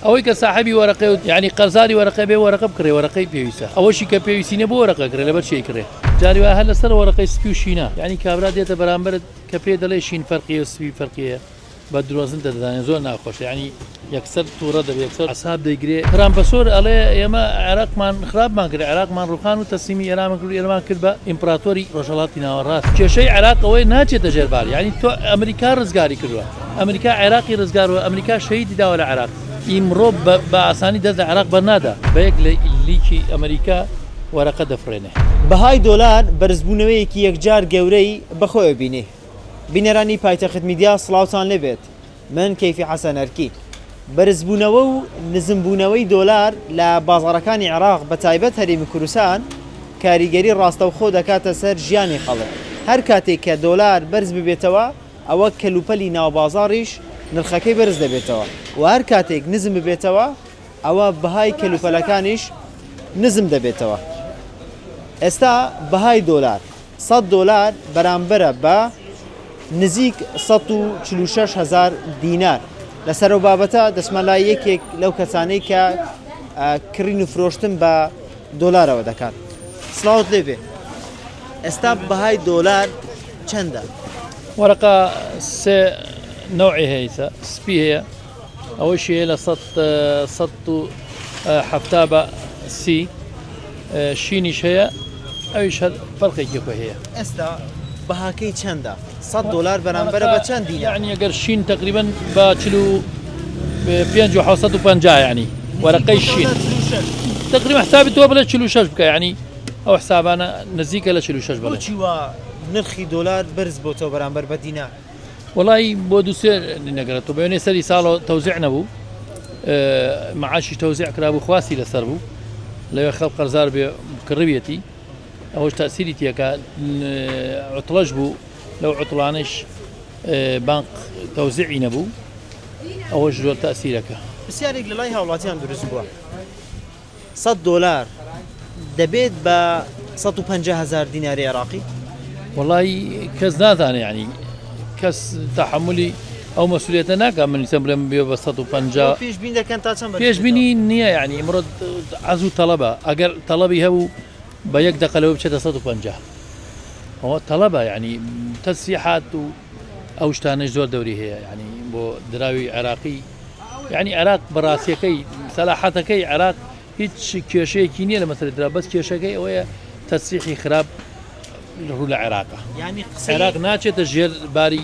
ئەوەی کە ساحەبی وەرەقەی و یعنی قەرزاری وەرەقە بێ وەرەقە بکڕێ وەرەقەی پێویستە ئەوەشی کە پێویستی نە بۆ وەرەقە کرێ لەبەر چی ئەیکڕێ جاری وایە هەر لەسەر وەرەقەی سپی و شینە یعنی کابرا دێتە بەرامبەرت کە پێی دەڵێ شین فەرقیە و سپی فەرقیە بە درۆزن دەدەدانێ زۆر ناخۆشە یعنی یەکسەر تووڕە دەبێ یەکسەر عەساب دەیگرێ ترامپەسۆر ئەڵێ ئێمە عێراقمان خراپمان کرد عێراقمان ڕووخان و تەسلیمی ئێرانمان کرد و ئێرەمان کرد بە ئیمپراتۆری ڕۆژهەڵاتی ناوەڕاست کێشەی عێراق ئەوەیە ناچێتە ژێر بار یعنی تۆ ئەمریکا ڕزگاری کردووە ئەمریکا عێراقی ڕزگار و ئەمریکا شەهیدی داوە لە عێراق. ئیمڕۆ بە ئاسانی دەست لە عێراق بەرنادا. بە یەک لیکی ئەمریکا وەرەقە دەفڕێنێ. بەهای دۆلار بەرزبوونەوەیەکی یەکجار گەورەی بەخۆیەوە بینی. بینەرانی پایتەخت میدیا سڵاوتان لێبێت من کەیفی حەسەن ئەرکی. بەرزبوونەوە و نزمبوونەوەی دۆلار لە بازاڕەکانی عێراق بەتایبەت هەرێمی کوردستان کاریگەری ڕاستەوخۆ دەکاتە سەر ژیانی خەڵک هەرکاتێک کە دۆلار بەرزببێتەوە، ئەوە کەلوپەلی ناوبازاڕیش نرخەکەی بەرز دەبێتەوە و هەر کاتێک نزم ببێتەوە ئەوە بەهای کەلوپەلەکانیش نزم دەبێتەوە ئێستا بەهای دۆلار سەد دۆلار بەرامبەرە بە نزیک سەد و چل و شەش هەزار دینار لەسەر و بابەتە دەچمە لای یەکێک لەو کەسانەی کە کڕین و فرۆشتن بە دۆلارەوە دەکات سڵاوت لێبێ ئێستا بەهای دۆلار چەندە وەرەقا سێ نەوعی هەیتە سپی هەیە ئەوەی شەیە لە هەفتا بە سی شینیش هەیە ئەویش هەر فەرقێکی خۆ هەیە ئێستا بەهاکەی چەندە سەد دۆلار بەرامبەرە بە چەند دینار؟ یەعنی ئەگەر شین تەقریبەن بە چل و پێنج و حەوسەد و پەنجا یەعنی وەرەقەی شین تقریبا حسابی تۆ بڵێ چل و شەش بکە یەعنی ئەو حسابانە نزیکە لە چل و شەش بڵێ بۆچی وا نرخی دۆلار بەرز بۆتەوە بەرامبەر بە دینار؟ وڵی بۆ دووسێ نەگەرە تۆ بێنێ سەری ساڵەوە تەوزیع نەبوو معاشی تەوزیع کرابوو خواستی لەسەر بوو لەوێ خەڵ قەرزار بێ کڕویەتی ئەوەش تەئسیری تیەکا عوتڵەش بوو لەو عوتڵانەش بانق تەوزیعی نەبوو ئەوەش زۆر تەئسیرەکە پرسیارێک لە لای هاوڵاتیان دروست بووە 100 دۆلار دەبێت بە 150 هزار دیناری عێراقی وڵی کەس نازانێ ینی کەس تەحملی ئەو مەسولیەتە ناکا من ئیسە بلێم بێ بە سەد و پەنجا ئەوە پێشبین دەکەن تا چەند بەرز پێشبینی بێتەوە؟ نییە یعنی ئمڕۆ عەزوو تەڵەبە ئەگەر تەڵەبی هەبوو بە یەک دەقە لەوە بچێتە 150 ئەوە تەڵەبە یعنی تەسیحات و ئەو شتانەی زۆر دەوری هەیە یعنی بۆ دراوی عێراقی یعنی عێراق بەڕاستیەکەی سەلاحەتەکەی عێراق هیچ کێشەیەکی نییە لە مەسەری درا بەس کێشەکەی ئەوەیە تەسیحی خراپ ڕوو لە عێراقە یعنی قسەی عێراق ناچێتە ژێر باری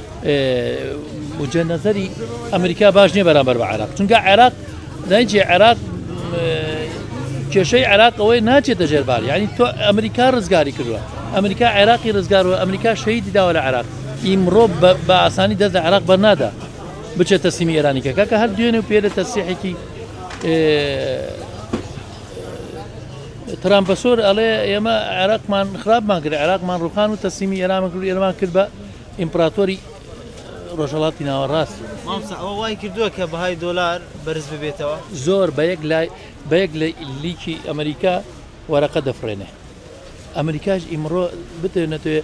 وجە نظری ئەمریکا باش نیە بەرامبەر بە عراق چونکە عێراق دایجی عێراق کێشەی عێراقەوەی ناچێتە ژێربار ینی تۆ ئەمریکا ڕزگاری کردووە ئەمریکا عێراقی ڕزگارەوە ئەمریکا شەیدی داوە لە عراق ئیمڕۆ بە ئاسانی دەست لە عراق بەرنادا بچێت تەسیمی ئێرانیکە کاکە هەر دوێنێ و پێرە تەسیحێکی ترامپە سۆر ئەڵێ ئێمە عێراقمان خراپمان کرد عێراقمان ڕوخان و تەسیمی ئێرامەکرد ئێرمان کرد بە ئیمپراتۆری ڕۆژهەڵاتی ناوەڕاست بوو. مامۆستا ئەوە وای کردووە کە بەهای دۆلار بەرز ببێتەوە؟ زۆر بە یەک لای بە یەک لە لیکی ئەمریکا وەرەقە دەفڕێنێ ئەمریکاش ئیمڕۆ بتێ نەتوێ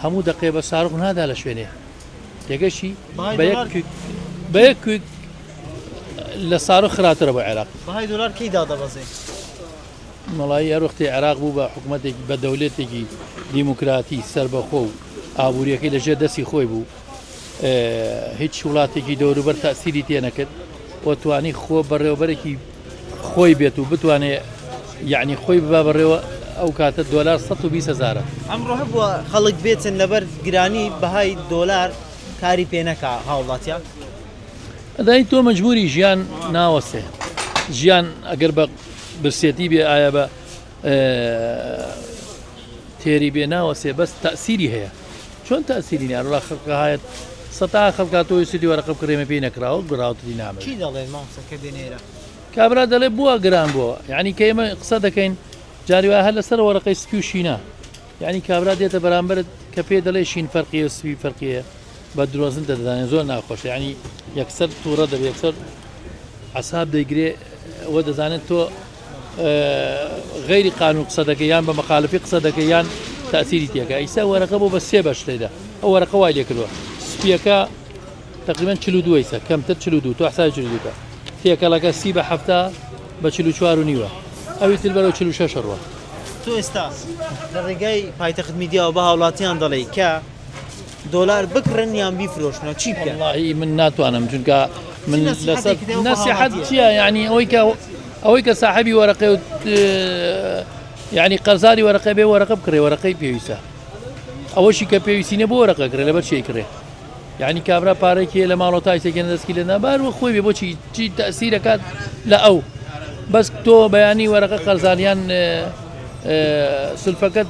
هەموو دەقێ بە ساڕخ نادا لە شوێنێ تێگەشی بەهای بە یەک دۆلار کویک بە یەک کویک لە ساڕخ خراترە بۆ عێراق بەهای دۆلار کەی دادەبەزێ؟ مەڵایی هەر وەختی عێراق بوو بە حکوومەتێکی بە دەولەتێکی دیموکراتی سربەخۆ و ئابووریەکەی لە ژێر دەستی خۆی بوو هیچ وڵاتێکی دەوروبەر تاسیری تێنەکرد و توانی خۆ بەڕێوبەرێکی خۆی بێت و بتوانێت یعنی خۆی ببا بەڕێوە ئەو کاتە دۆلار 120 هزارە ئەمڕۆ هەبووە خەڵک بێتن لەبەر گرانی بەهای دۆلار کاری پێنەکە هاوڵاتیان ئەدای تۆ مەجبوری ژیان ناوەسێ ژیان ئەگەر بە برسێتی بێ ئایا بە تێری بێ ناوەسێ بەس تاسیری هەیە چۆن تاسیری نیان ڕا خەکە هاەت سەتا خەکات تۆی سیدی وەرەقە کرێمە پێی نەکراوە گراوتری نامە کابرا دەڵێ بووە گران بووە یعنی کە ئمە قسە دەکەین جاریوا هەر لەسەر وەرەقەی سپی و شینە یعنی کابرا دێتە بەرامبرت کە پێ دەڵێ شین فەرقیە سوی فەرقیە بە درۆزن دەدانێ زۆر ناخۆش ینی یەکسەر تووڕە دەبێت سەر عساب دەیگرێ ئەوە دەزانێت تۆ غەیری قانون قسە دەکەی یان بە مەخالفی قسە دەکەی یان تاثیری تێکە ئیستا وەرەقە بۆ بە سێ بەش تێدا ئەو وەرەقە وای لێکردوە سپیەکە تقریبا چلو دویسە کەمتر چلو دو تو حسای چلو دوکە تێکەڵەکە سی بە هەفتا بە چلو چوار و نیوە ئەوی تر بەرەو چلو شەش ڕوە تۆ ئێستا لە ڕێگای پایتەخت میدیاوە بە هاوڵاتیان دەڵێی کە دۆلار بکڕن یان بیفرۆشنەوە چی بکەن؟ وەڵاهی من ناتوانم چونکە من لەسەر نەسیحەت چییە یعنی ئەوەی کە ئەوەی کە ساحبی وەرەقێ و یعنی قەرزاری وەرەقە بێ وەرەقە بکڕێ وەرەقەی پێویستە ئەوەشی کە پێویستی نە بۆ وەرەقە کرێ لەبەر شێ کرێ یعنی کابرا پارێکی لە ماڵۆ تایسێکێن دەستکی لە نابار و خۆی بێ بۆچی چی تەسیرەکات لە ئەو بەس تۆ بەیانی وەرەقە قەرزانیان سلفەکەت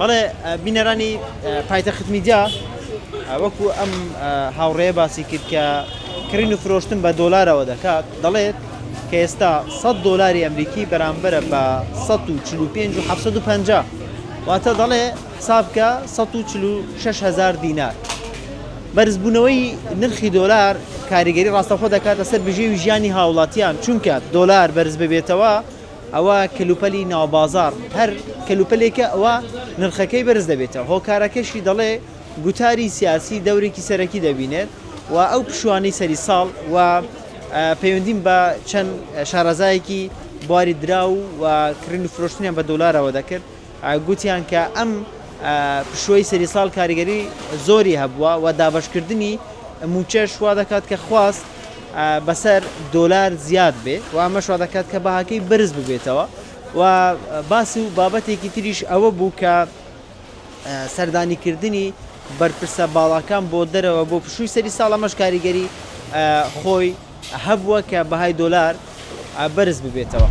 بەڵێ بینەرانی پایتەخت میدیا وەکو ئەم هاوڕێیە باسی کرد کە کڕین و فرۆشتن بە دۆلارەوە دەکات دەڵێت کە ئێستا 100 دۆلاری ئەمریکی بەرامبەرە بە 145 و 750 واتە دەڵێ حسابکە 146 هزار دینار بەرزبوونەوەی نرخی دۆلار کاریگەری ڕاستەخۆ دەکاتە سەر بژێوی ژیانی هاوڵاتیان چونکە دۆلار بەرز ببێتەوە ئەوە کەلوپەلی ناوبازاڕ هەر کەلوپەلێکە ئەوا نرخەکەی بەرز دەبێتەوە، هۆکارەکەشی دەڵێ گوتاری سیاسی دەورێکی سەرەکی دەبینێت و ئەو پشوانەی سەری ساڵ و پەیوەندیم بە چەند شارەزایەکی بواری دراو و کڕین و فرۆشتنیان بە دۆلارەوە دەکرد، گوتیان کە ئەم پشووەی سەری ساڵ کاریگەری زۆری هەبووە و دابەشکردنی مووچەش وا دەکات کە خواست بەسەر دۆلار زیاد بێ و ئەمەش وا دەکات کە بەهاکەی بەرز ببێتەوە و باس و بابەتێکی تریش ئەوە بوو کە سەردانیکردنی بەرپرسە باڵاکان بۆ دەرەوە بۆ پشووی سەری ساڵەمەش کاریگەری خۆی هەبووە کە بەهای دۆلار بەرز ببێتەوە.